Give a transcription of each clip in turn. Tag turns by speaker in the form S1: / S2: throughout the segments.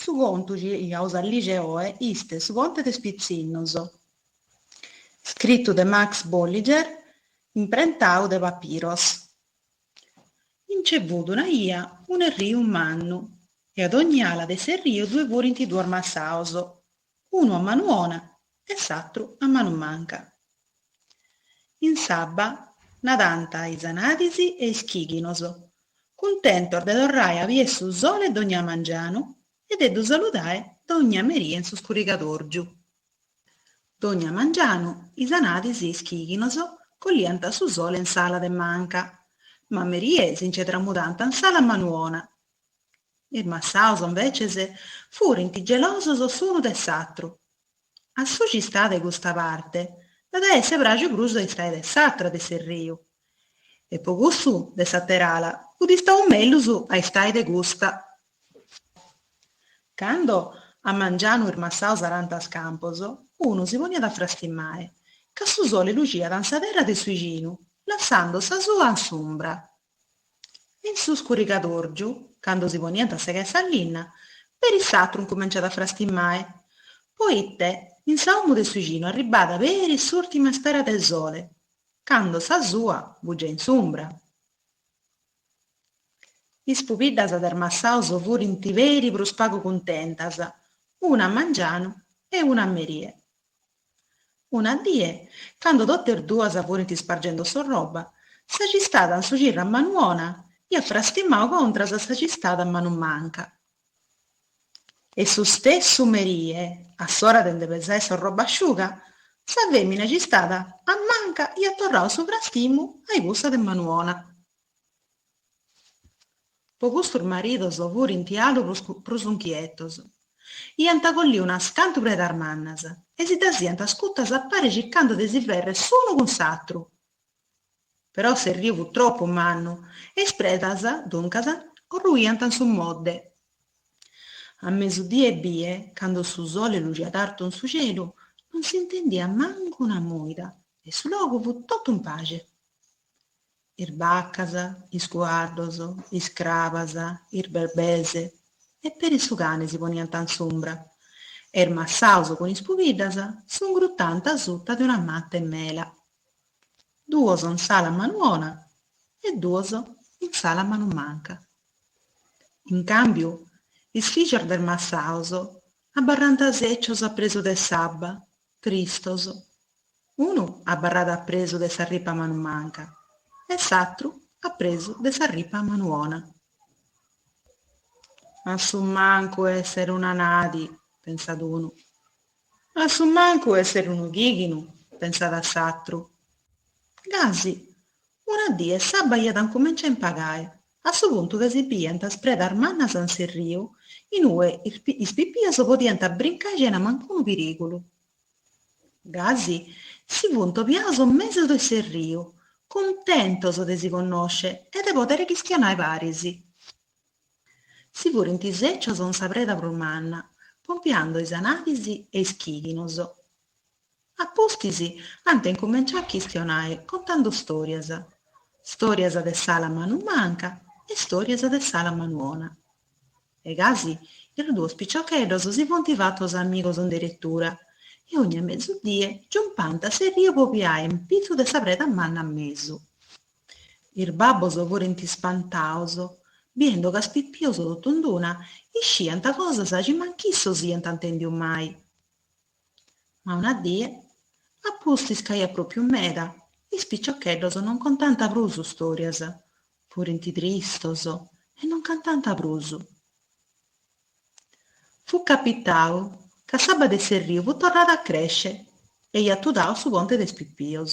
S1: Su contu ci aus a lìgere oe iste Su ponte de is pitzinnos, scritu de Max Bolliger, imprentau de Papiros. Nce fut una ia un'erriu mannu e a dogni ala de s'erriu ddoe furint duos massaos, unu a manu 'ona e s'atru a manu manca. In s'abba nadant is anadis e is chighinos, cuntentos de torrae a bier su sole dògnia mangianu e de ddu saludae dògnia meria in su scurrigadòrgiu. Dògnia mangianu, is anadis e is chighinos colliant su sole in s'ala de manca, ma a merie si nce tramudànt in s'ala manu 'ona. Is massaus, imbeces, furint gelosos s'unu de s'atru. A su ci istàt de custa parte, dd'at a esser pràgiu prus a istae de s'atra de s'erriu, E po cussu de s'àtera ala fut istau mellus a istae de custa. Cando a mangianu is massaus arànt is campos, unu si poniat a frastimae, ca su sole luciat in sa terra de su icinu, lassando sa sua in s'umbra. E in su scurrigadorgiu, cando si poniant a segae sa linna, peri s'atru incumenciat a frastimae, poite in sa 'omu de su icinu arribada peri s'urtima spera de sole, Cando sa sua fut giai in s'umbra. Is pubiddas de is massaus furint peri prus pagu cuntentas, una a mangianu e una a merie. Una die, cando totas duas furint ispargendo s'orroba, sa ci istàt in su cirru a manu 'ona iat frastimau contras a sa ci istàt a manu manca, E su stessu merie, a s'ora de nde pesae s'orroba asciuga, sa fèmina ci istàt a manca iat torrau su frastimu a i cussa de manu 'ona. Po custu is maridos furint alu prus unchietos. Iant colliu unas cantu predas mannas e si ddas iant ascutas a pare circando de si fèrrere s'unu cun s'atru. Però s'erriu fut tropu mannu e is predas, duncas, orruiant in su modde. A mesudie ebbie, cando su sole luciat artu in su celu, non s'intendiat mancu una mòida e su logu fut totu in pace. Is bacas, is cuaddos, is crabas, is berbes e peri su cani si poniant in s'umbra e is massaus cun is pubiddas s'ungrutant asuta de una mata 'e mela. duos in s'ala manu 'ona e duos in s'ala manu manca. In càmbiu is fìgios de is massaos abarrant sècios a presu de s'abba, tristos, unu abarrat a presu de sa ripa manu manca e s'atru a presu de sa ripa manu 'ona. A su mancu èssere un'anadi, pensat unu, A su mancu esser unu chighinu, pensat s'atru. Gasi, una die s'abba iat incumenciau a impagae, a su puntu ca si biiant is predas mannas in s'erriu in ue is pipios podiant brincai chena mancunu pirigulu. Gasi, si funt obiaus in mesu de s'erriu, cuntentos de si connosce e de poder chischionae paris. Si furint sècios in sa preda prus manna, pompiando is anadis e is chighinos. A pustis ant incumenciau a chistionae contando stòrias, stòrias de s'ala manu manca e stòrias de s'ala manu ona. E gasi is duos piciocheddos si funt fatos amigos in deretura e ogni mesudie giumpànt s'erriu po obiae in pitzu de sa preda manna a mesu. Is babbos furint ispantaos, biendo ca is pipios totu in d'una isciant cosas chi mancu issos iant intendiu mai. Ma una die, a pustis ca iat pròpiu meda, is piciocheddos non contant prus stòrias, furint tristos e non cantant prus. Fut capitau ca s'abba de s'erriu fut torrada a crèscere e iat tudau su ponte de is pipios.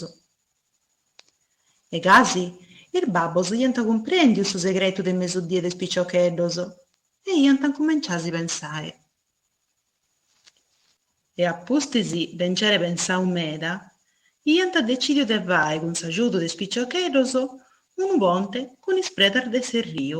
S1: E gasi, is babbos iant cumprèndiu su segretu de mesudie de is piciocheddos e iant incumenciau a si pensae. E a pustis de nc'aere pensau meda, iant decìdiu de fae cun s'agiudu de is piciocheddos unu ponte cun is predas de s'erriu.